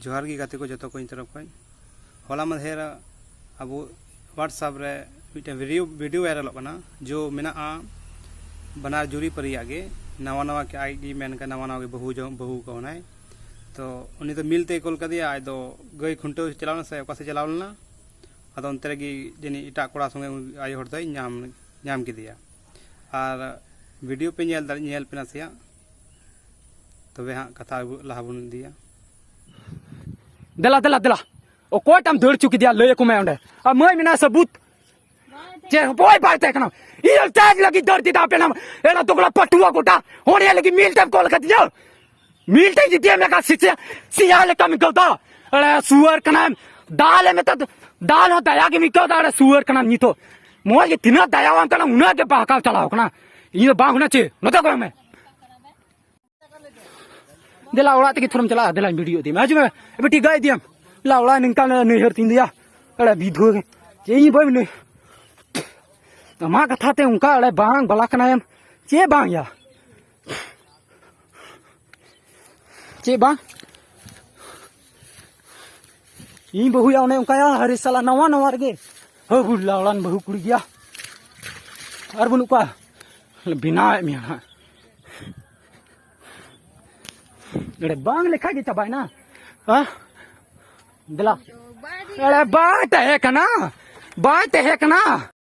ᱡᱚᱦᱟᱨ ᱜᱮ ᱜᱟᱛᱮ ᱠᱚ ᱡᱚᱛᱚ ᱠᱚ ᱤᱧ ᱛᱚᱨᱚᱯ ᱠᱷᱚᱱ ᱦᱚᱞᱟ ᱢᱟᱫᱷᱮᱨ ᱟᱵᱚ ᱦᱳᱣᱟᱴᱥᱟᱯ ᱨᱮ ᱢᱤᱫᱴᱮᱱ ᱵᱷᱤᱰᱤᱭᱳ ᱵᱷᱤᱰᱤᱭᱳ ᱵᱷᱟᱭᱨᱟᱞᱚᱜ ᱠᱟᱱᱟ ᱡᱚ ᱢᱮᱱᱟᱜᱼᱟ ᱵᱟᱱᱟᱨ ᱡᱩᱨᱤ ᱯᱟᱹᱨᱤᱭᱟᱜ ᱜᱮ ᱱᱟᱣᱟ ᱱᱟᱣᱟ ᱜᱮ ᱟᱡ ᱜᱮ ᱢᱮᱱ ᱠᱟᱱᱟ ᱱᱟᱣᱟ ᱱᱟᱣᱟ ᱜᱮ ᱵᱟᱹᱦᱩ ᱡᱚᱝ ᱵᱟᱹᱦᱩ ᱠᱟᱣᱱᱟᱭ ᱛᱚ ᱩᱱᱤ ᱫᱚ ᱢᱤᱞ ᱛᱮᱭ ᱠᱚᱞ ᱠᱟᱫᱮᱭᱟ ᱟᱡ ᱫᱚ ᱜᱟᱹᱭ ᱠᱷᱩᱱᱴᱟᱹᱣ ᱪᱟᱞᱟᱣ ᱞᱮᱱᱟ ᱥᱮ ᱚᱠᱟ ᱥᱮᱫ ᱪᱟᱞᱟᱣ ᱞᱮᱱᱟ ᱟᱫᱚ ᱚᱱᱛᱮ ᱨᱮᱜᱮ ᱡᱟᱹᱱᱤᱡ ᱮᱴᱟᱜ ᱠᱚᱲᱟ ᱥᱚᱸᱜᱮ ᱟᱭᱳ ᱦᱚᱲ ᱫᱚᱭ ᱧᱟᱢ ᱧᱟᱢ ᱠᱮᱫᱮᱭᱟ ᱟᱨ ᱵᱷᱤᱰᱤᱭᱳ ᱯᱮ ᱧᱮᱞ ᱫᱟᱲᱮ ᱧᱮᱞ ᱯᱮ ᱱᱟᱥᱮᱭᱟᱜ ᱛᱚᱵᱮ ᱦᱟᱸᱜ ᱠᱟᱛᱷᱟ ᱞᱟᱦᱟ ᱵᱚᱱ ᱤᱫᱤᱭᱟ ᱫᱮᱞᱟ ᱫᱮᱞᱟ ᱫᱮᱞᱟ ᱚᱠᱚᱭᱴᱟᱢ ᱫᱟᱹᱲ ᱪᱩ ᱠᱮᱫᱮᱭᱟ ᱞᱟᱹᱭ ᱟᱠᱚ ᱢᱮ ᱚᱸᱰᱮ ᱟᱨ ᱢᱟᱹᱭ ᱢᱮᱱᱟᱜᱼᱟ ᱥᱟᱹᱵᱩᱛ ᱪᱮ ᱵᱚᱭ ᱵᱟᱭ ᱛᱟᱦᱮᱸ ᱠᱟᱱᱟ ᱤᱭᱟᱹ ᱴᱟᱭᱤᱢ ᱞᱟᱹᱜᱤᱫ ᱫᱟᱹᱲ ᱫᱤᱫᱟ ᱟᱯᱮ ᱱᱟᱢ ᱮᱲᱟ ᱫᱚᱜᱲᱟ ᱯᱟᱴᱩᱣᱟ ᱜᱚᱴᱟ ᱚᱸᱰᱮ ᱞᱟᱹᱜᱤᱫ ᱢᱤᱞ ᱴᱟᱭᱤᱢ ᱠᱚᱞ ᱠᱟᱛᱤᱧᱟ ᱢᱤᱞ ᱴᱟᱭᱤᱢ ᱡᱤᱛᱤᱭᱟ ᱢᱮᱠᱟ ᱥᱤᱪᱟ ᱥᱤᱭᱟ ᱞᱮᱠᱟ ᱢᱤᱠᱚ ᱫᱟ ᱮᱲᱟ ᱥᱩᱣᱟᱨ ᱠᱟᱱᱟ ᱫᱟᱞ ᱮ ᱢᱮᱛᱟ ᱫᱟᱞ ᱦᱚᱸ ᱫᱟᱭᱟ ᱜᱮ ᱢᱤᱠᱚ ᱫᱟ ᱮᱲᱟ ᱥᱩᱣᱟᱨ ᱠᱟᱱᱟ ᱱᱤᱛᱚᱜ ᱢᱚᱡᱽ ᱜᱮ ᱛᱤᱱᱟᱹᱜ ᱫᱟᱭᱟᱣᱟᱱ ᱠᱟᱱᱟ ᱩᱱᱟᱹᱜ ᱜᱮ ᱵᱟᱦᱠᱟᱣ ᱪᱟᱞᱟᱣ ᱠᱟᱱᱟ ᱤᱧ ᱫᱚ ᱵᱟᱝ ᱦᱩᱱᱟ ᱪᱮ ᱱᱚᱛᱮ ᱠᱚ ᱢᱮ ᱫᱮᱞᱟ ᱚᱲᱟᱜ ᱛᱮᱜᱮ ᱛᱷᱚᱨᱚᱢ ᱪᱟᱞᱟᱜᱼᱟ ᱫᱮᱞᱟᱧ ᱵᱷᱤᱰᱤᱭᱳ ᱤᱫᱤ ᱢᱮ ᱦᱤᱡᱩᱜ ᱢᱮ ᱮᱵᱮ ᱴᱤᱠᱟ ᱤᱫᱤᱭᱟᱢ ᱞᱟ ᱚᱲᱟᱜ ᱱᱤᱝᱠᱟ ᱱᱟᱹᱭᱦᱟᱹᱨ ᱛᱤᱧ ᱫᱮᱭᱟ ᱮᱲᱮ ᱵᱤᱫᱷᱩ ᱪᱮ ᱤᱧ ᱵᱟᱹᱧ ᱱᱟᱹᱭ ᱟᱢᱟᱜ ᱠᱟᱛᱷᱟ ᱛᱮ ᱚᱱᱠᱟ ᱮᱲᱮ ᱵᱟᱝ ᱵᱟᱞᱟ ᱠᱟᱱᱟᱭᱮᱢ ᱪᱮ ᱵᱟᱝ ᱭᱟ ᱪᱮᱫ ᱵᱟᱝ ᱤᱧ ᱵᱟᱹᱦᱩᱭᱟ ᱚᱱᱮ ᱚᱱᱠᱟᱭᱟ ᱦᱟᱨᱮ ᱥᱟᱞᱟ ᱱᱟᱣᱟ ᱱᱟᱣᱟ ᱨᱮᱜᱮ ᱦᱟᱹ ᱵᱩᱰᱞᱟ ᱚᱲᱟᱱ ᱵᱟᱹᱦᱩ ᱠᱩᱲᱤ ᱜᱮᱭᱟ ᱟᱨ ᱵᱟᱹᱱᱩᱜ ᱠᱚᱣᱟ ᱵᱮᱱᱟᱣᱮᱫ ᱢᱮᱭᱟ ᱦᱟᱸᱜ ᱮᱲᱮ ᱵᱟᱝ ᱞᱮᱠᱷᱟ ᱜᱮ ᱪᱟᱵᱟᱭᱱᱟ ᱦᱮᱸ ᱫᱮᱞᱟ ᱮᱲᱮ ᱵᱟᱭ ᱛᱟᱦᱮᱸ ᱠᱟᱱᱟ ᱵᱟᱭ ᱛᱟᱦᱮᱸ ᱠᱟᱱᱟ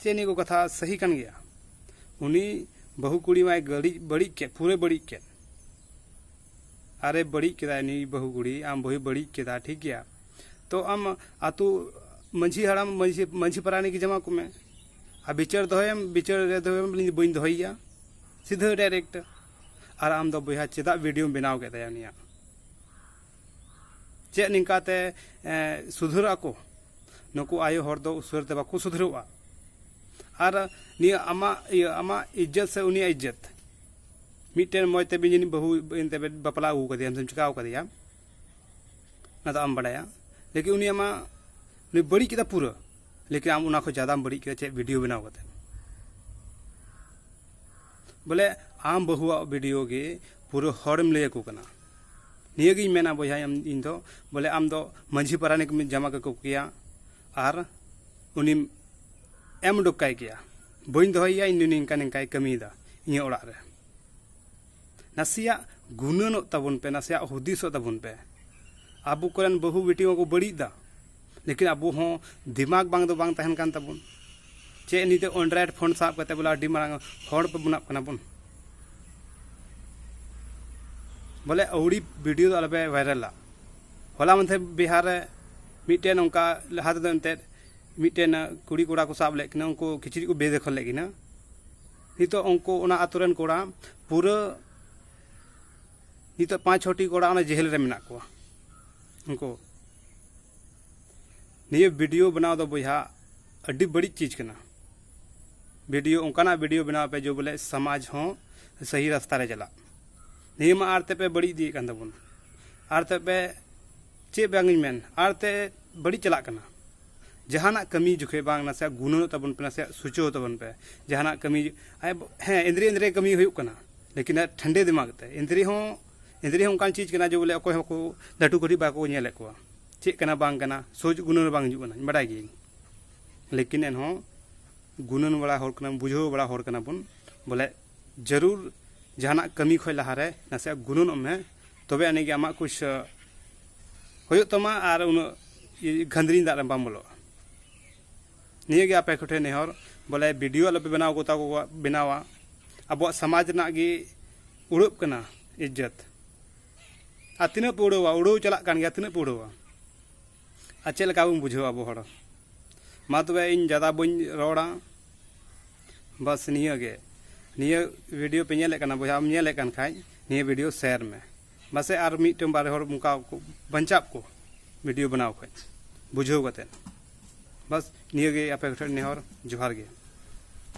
ᱪᱮᱫ ᱱᱤᱭᱟᱹ ᱠᱚ ᱠᱟᱛᱷᱟ ᱥᱟᱹᱦᱤ ᱠᱟᱱ ᱜᱮᱭᱟ ᱩᱱᱤ ᱵᱟᱹᱦᱩ ᱠᱩᱲᱤ ᱢᱟᱭ ᱜᱟᱹᱲᱤᱡ ᱵᱟᱹᱲᱤᱡ ᱠᱮᱫ ᱯᱩᱨᱟᱹ ᱵᱟᱹᱲᱤᱡ ᱠᱮᱫ ᱟᱨᱮ ᱵᱟᱹᱲᱤᱡ ᱠᱮᱫᱟᱭ ᱱᱩᱭ ᱵᱟᱹᱦᱩ ᱠᱩᱲᱤ ᱟᱢ ᱵᱟᱹᱦᱩᱭ ᱵᱟᱹᱲᱤᱡ ᱠᱮᱫᱟ ᱴᱷᱤᱠ ᱜᱮᱭᱟ ᱛᱚ ᱟᱢ ᱟᱛᱳ ᱢᱟᱺᱡᱷᱤ ᱦᱟᱲᱟᱢ ᱢᱟᱺᱡᱷᱤ ᱢᱟᱺᱡᱷᱤ ᱯᱟᱨᱟᱱᱤᱠ ᱡᱟᱢᱟ ᱠᱚᱢᱮ ᱟᱨ ᱵᱤᱪᱟᱹᱨ ᱫᱚᱦᱚᱭᱮᱢ ᱵᱤᱪᱟᱹᱨ ᱨᱮ ᱫᱚᱦᱚᱭᱮᱢ ᱤᱧ ᱵᱟᱹᱧ ᱫᱚᱦᱚᱭᱮᱭᱟ ᱥᱤᱫᱷᱟᱹ ᱰᱟᱭᱨᱮᱠᱴ ᱟᱨ ᱟᱢ ᱫᱚ ᱵᱚᱭᱦᱟ ᱪᱮᱫᱟᱜ ᱵᱷᱤᱰᱤᱭᱳᱢ ᱵᱮᱱᱟᱣ ᱠᱮᱫ ᱛᱟᱭᱟ ᱩᱱᱤᱭᱟᱜ ᱪᱮᱫ ᱱᱤᱝᱠᱟᱛᱮ ᱥᱩᱫᱷᱟᱹᱨᱚᱜ ᱟᱠᱚ ᱱᱩᱠᱩ ᱟᱭᱳ ᱦᱚᱲ ᱫᱚ ᱩᱥᱟᱹᱨᱟ ᱛᱮ ᱵᱟᱠᱚ ᱥᱩᱫᱷᱟᱹᱨᱚᱜᱼᱟ ᱟᱨ ᱱᱤᱭᱟᱹ ᱟᱢᱟᱜ ᱤᱭᱟᱹ ᱟᱢᱟᱜ ᱤᱡᱽᱡᱚᱛ ᱥᱮ ᱩᱱᱤᱭᱟᱜ ᱤᱡᱽᱡᱚᱛ ᱢᱤᱫᱴᱮᱱ ᱢᱚᱡᱽ ᱛᱮ ᱡᱟᱹᱱᱤᱡ ᱵᱟᱹᱦᱩ ᱮᱱᱛᱮ ᱵᱟᱯᱞᱟ ᱟᱹᱜᱩ ᱠᱟᱫᱮᱭᱟᱢ ᱥᱮᱢ ᱪᱤᱠᱟᱣ ᱠᱟᱫᱮᱭᱟ ᱚᱱᱟ ᱫᱚ ᱟᱢ ᱵᱟᱲᱟᱭᱟ ᱞᱮᱠᱤᱱ ᱩᱱᱤ ᱟᱢᱟᱜ ᱩᱱᱤ ᱵᱟᱹᱲᱤᱡ ᱠᱮᱫᱟ ᱯᱩᱨᱟᱹ ᱞᱮᱠᱤᱱ ᱟᱢ ᱚᱱᱟ ᱠᱷᱚᱱ ᱡᱟᱫᱟᱢ ᱵᱟᱹᱲᱤᱡ ᱠᱮᱫᱟ ᱪᱮᱫ ᱵᱷᱤᱰᱤᱭᱳ ᱵᱮᱱᱟᱣ ᱠᱟᱛᱮ ᱵᱚᱞᱮ ᱟᱢ ᱵᱟᱹᱦᱩᱣᱟᱜ ᱵᱷᱤᱰᱤᱭᱳ ᱜᱮ ᱯᱩᱨᱟᱹ ᱦᱚᱲᱮᱢ ᱞᱟᱹᱭ ᱟᱠᱚ ᱠᱟᱱᱟ ᱱᱤᱭᱟᱹ ᱜᱤᱧ ᱢᱮᱱᱟ ᱵᱚᱭᱦᱟ ᱤᱧ ᱫᱚ ᱵᱚᱞᱮ ᱟᱢ ᱫᱚ ᱢᱟᱹᱡᱷᱤ ᱯᱟᱨᱟᱱᱤᱠ ᱮᱢ ᱡᱟᱢᱟ ᱠᱟᱠᱚ ᱠᱮᱭᱟ ᱟᱨ ᱩᱱᱤᱢ ᱮᱢ ᱩᱰᱩᱠ ᱠᱟᱭ ᱠᱮᱭᱟ ᱵᱟᱹᱧ ᱫᱚᱦᱚᱭᱮᱭᱟ ᱤᱧ ᱫᱚ ᱱᱤᱝᱠᱟ ᱱᱤᱝᱠᱟᱭ ᱠᱟᱹᱢᱤᱭᱮᱫᱟ ᱤᱧᱟᱹᱜ ᱚᱲᱟᱜ ᱨᱮ ᱱᱟᱥᱮᱭᱟᱜ ᱜᱩᱱᱟᱹᱱᱚᱜ ᱛᱟᱵᱚᱱ ᱯᱮ ᱱᱟᱥᱮᱭᱟᱜ ᱦᱩᱫᱤᱥᱚᱜ ᱛᱟᱵᱚᱱ ᱯᱮ ᱟᱵᱚ ᱠᱚᱨᱮᱱ ᱵᱟᱹᱦᱩ ᱵᱤᱴᱤ ᱢᱟᱠᱚ ᱵᱟᱹᱲᱤᱡ ᱮᱫᱟ ᱞᱮᱠᱤᱱ ᱟᱵᱚ ᱦᱚᱸ ᱫᱤᱢᱟᱜᱽ ᱵᱟᱝ ᱫᱚ ᱵᱟᱝ ᱛᱟᱦᱮᱱ ᱠᱟᱱ ᱛᱟᱵᱚᱱ ᱪᱮᱫ ᱱᱤᱛᱚᱜ ᱚᱱᱰᱨᱚᱭᱮᱰ ᱯᱷᱳᱱ ᱥᱟᱵ ᱠᱟᱛᱮ ᱵᱚᱞᱮ ᱟᱹᱰᱤ ᱢᱟᱨᱟᱝ ᱦᱚᱲ ᱯᱮ ᱵᱮᱱᱟᱜ ᱠᱟᱱᱟ ᱵᱚᱱ ᱵᱚᱞᱮ ᱟᱹᱣᱲᱤ ᱵᱷᱤᱰᱤᱭᱳ ᱫᱚ ᱟᱞᱚᱯᱮ ᱵᱷᱟᱭᱨᱟᱞᱟ ᱦᱚᱞᱟ ᱢᱟᱫᱷᱮᱨ ᱵᱤᱦᱟᱨ ᱨᱮ ᱢᱤᱫᱴᱮᱱ ᱚᱱᱠᱟ ᱞᱟᱦᱟ ᱛᱮᱫᱚ ᱮᱱᱛᱮᱫ ᱢᱤᱫᱴᱮᱱ ᱠᱩᱲᱤ ᱠᱚᱲᱟ ᱠᱚ ᱥᱟᱵ ᱞᱮᱫ ᱠᱤᱱᱟ ᱩᱱᱠᱩ ᱠᱤᱪᱨᱤᱡ ᱠᱚ ᱵᱮᱫᱮᱠᱷᱚᱞ ᱞᱮᱫ ᱠᱤᱱᱟ ᱱᱤᱛᱚᱜ ᱩᱱᱠᱩ ᱚᱱᱟ ᱟᱛᱳ ᱨᱮᱱ ᱠᱚᱲᱟ ᱯᱩᱨᱟᱹ ᱱᱤᱛᱚᱜ ᱯᱟᱸᱪ ᱪᱷᱚᱴᱤ ᱠᱚᱲᱟ ᱚᱱᱟ ᱡᱮᱦᱮᱞ ᱨᱮ ᱢᱮᱱᱟᱜ ᱠᱚᱣᱟ ᱩᱱᱠᱩ ᱱᱤᱭᱟᱹ ᱵᱷᱤᱰᱤᱭᱳ ᱵᱮᱱᱟᱣ ᱫᱚ ᱵᱚᱭᱦᱟ ᱟᱹᱰᱤ ᱵᱟᱹᱲᱤᱡ ᱪᱤᱡᱽ ᱠᱟᱱᱟ ᱵᱷᱤᱰᱤᱭᱳ ᱚᱱᱠᱟᱱᱟᱜ ᱵᱷᱤᱰᱤᱭᱳ ᱵᱮᱱᱟᱣ ᱯᱮ ᱡᱮ ᱵᱚᱞᱮ ᱥᱚᱢᱟᱡᱽ ᱦᱚᱸ ᱥᱟᱹᱦᱤ ᱨᱟᱥᱛᱟ ᱨᱮ ᱪᱟᱞᱟᱜ ᱱᱤᱭᱟᱹ ᱢᱟ ᱟᱨ ᱛᱮᱯᱮ ᱵᱟᱹᱲᱤᱡ ᱤᱫᱤᱭᱮᱫ ᱠᱟᱱ ᱛᱟᱵᱚᱱ ᱟᱨ ᱛᱮᱯᱮ ᱪᱮᱫ ᱵᱟᱝ ᱤᱧ ᱢᱮᱱ ᱟᱨ ᱛᱮ ᱵᱟᱹᱲᱤᱡ ᱪᱟᱞᱟᱜ ᱠᱟᱱᱟ ᱡᱟᱦᱟᱱᱟᱜ ᱠᱟᱹᱢᱤ ᱡᱚᱠᱷᱮᱡ ᱵᱟᱝ ᱱᱟᱥᱮ ᱜᱩᱱᱟᱹᱣ ᱛᱟᱵᱚᱱ ᱯᱮ ᱱᱟᱥᱮ ᱥᱩᱪᱟᱹᱣ ᱛᱟᱵᱚᱱ ᱯᱮ ᱡᱟᱦᱟᱱᱟᱜ ᱠᱟᱹᱢᱤ ᱦᱮᱸ ᱮᱸᱫᱽᱨᱮ ᱮᱸᱫᱽᱨᱮ ᱠᱟᱹᱢᱤ ᱦᱩᱭᱩᱜ ᱠᱟᱱᱟ ᱞᱮᱠᱤᱱ ᱴᱷᱟᱱᱰᱮ ᱫᱤᱢᱟᱜᱽ ᱛᱮ ᱮᱸᱫᱽᱨᱮ ᱦᱚᱸ ᱮᱸᱫᱽᱨᱮ ᱦᱚᱸ ᱚᱱᱠᱟᱱ ᱪᱤᱡᱽ ᱠᱟᱱᱟ ᱡᱮ ᱵᱚᱞᱮ ᱚᱠᱚᱭ ᱦᱚᱸᱠᱚ ᱞᱟᱹᱴᱩ ᱠᱟᱹᱴᱤᱡ ᱵᱟᱠᱚ ᱧᱮᱞᱮᱫ ᱠᱚᱣᱟ ᱪᱮᱫ ᱠᱟᱱᱟ ᱵᱟᱝ ᱠᱟᱱᱟ ᱥᱳᱡᱽ ᱜᱩᱱᱟᱹᱱ ᱵᱟᱝ ᱦᱤᱡᱩᱜ ᱠᱟᱱᱟ ᱵᱟᱰᱟᱭ ᱜᱤᱭᱟᱹᱧ ᱞᱮᱠᱤᱱ ᱮᱱᱦᱚᱸ ᱜᱩᱱᱟᱹᱱ ᱵᱟᱲᱟ ᱦᱚᱲ ᱠᱟᱱᱟ ᱵᱩᱡᱷᱟᱹᱣ ᱵᱟᱲᱟ ᱦᱚᱲ ᱠᱟᱱᱟ ᱵᱚᱱ ᱵᱚᱞᱮ ᱡᱟᱹᱨᱩᱲ ᱡᱟᱦᱟᱱᱟᱜ ᱠᱟᱹᱢᱤ ᱠᱷᱚᱱ ᱞᱟᱦᱟᱨᱮ ᱱᱟᱥᱮᱭᱟᱜ ᱜᱩᱱᱟᱹᱱᱚᱜ ᱢᱮ ᱛᱚᱵᱮ ᱟᱹᱱᱤᱡ ᱜᱮ ᱟᱢᱟᱜ ᱠᱩᱪ ᱦᱩᱭᱩᱜ ᱛᱟᱢᱟ ᱟᱨ ᱩᱱᱟᱹᱜ ᱜᱷᱟᱸᱫᱽᱨᱤᱧ ᱫᱟᱜ ᱨᱮ ᱵᱟᱢ ᱵᱚᱞᱚᱜᱼᱟ ᱱᱤᱭᱟᱹ ᱜᱮ ᱟᱯᱮ ᱠᱚᱴᱷᱮᱱ ᱱᱮᱦᱚᱨ ᱵᱚᱞᱮ ᱵᱷᱤᱰᱤᱭᱳ ᱟᱞᱚᱯᱮ ᱵᱮᱱᱟᱣ ᱠᱚᱛᱟ ᱠᱚ ᱵᱮᱱᱟᱣᱟ ᱟᱵᱚᱣᱟᱜ ᱥᱚᱢᱟᱡᱽ ᱨᱮᱱᱟᱜ ᱜᱮ ᱩᱲᱟᱹᱜ ᱠᱟᱱᱟ ᱤᱡᱽᱡᱚᱛ ᱟᱨ ᱛᱤᱱᱟᱹᱜ ᱯᱮ ᱩᱲᱟᱹᱣᱟ ᱩᱲᱟᱹᱣ ᱪᱟᱞᱟᱜ ᱠᱟᱱ ᱜᱮᱭᱟ ᱛᱤᱱᱟᱹᱜ ᱯᱮ ᱩᱲᱟᱹᱣᱟ ᱟᱨ ᱪᱮᱫ ᱞᱮᱠᱟ ᱵᱚᱱ ᱵᱩᱡᱷᱟᱹᱣᱟ ᱟᱵᱚ ᱦᱚᱲ ᱢᱟ ᱛᱚᱵᱮ ᱤᱧ ᱡᱟᱫᱟ ᱵᱟᱹᱧ ᱨᱚᱲᱟ ᱵᱟᱥ ᱱᱤᱭᱟᱹ ᱜᱮ ᱱᱤᱭᱟᱹ ᱵᱷᱤᱰᱤᱭᱳ ᱯᱮ ᱧᱮᱞᱮᱫ ᱠᱟᱱᱟ ᱵᱚᱭᱦᱟᱢ ᱧᱮᱞᱮᱫ ᱠᱟᱱ ᱠᱷᱟᱡ ᱱᱤᱭᱟᱹ ᱵᱷᱤᱰᱤᱭᱳ ᱥᱮᱭᱟᱨ ᱢᱮ ᱵᱟᱥᱮ ᱟᱨ ᱢᱤᱫᱴᱟᱝ ᱵᱟᱨ ᱦᱚᱲ ᱚᱱᱠᱟ ᱵᱟᱧᱪᱟᱜ ᱠᱚ ᱵᱷᱤᱰᱤᱭᱳ ᱵᱮᱱᱟᱣ ᱠᱷᱚᱡ ᱵᱩᱡᱷᱟᱹᱣ ᱠᱟᱛᱮ ᱵᱟᱥ ᱱᱤᱭᱟᱹᱜᱮ ᱟᱯᱮ ᱠᱚᱴᱷᱮᱱ ᱱᱮᱦᱚᱨ ᱡᱚᱦᱟᱨ ᱜᱮ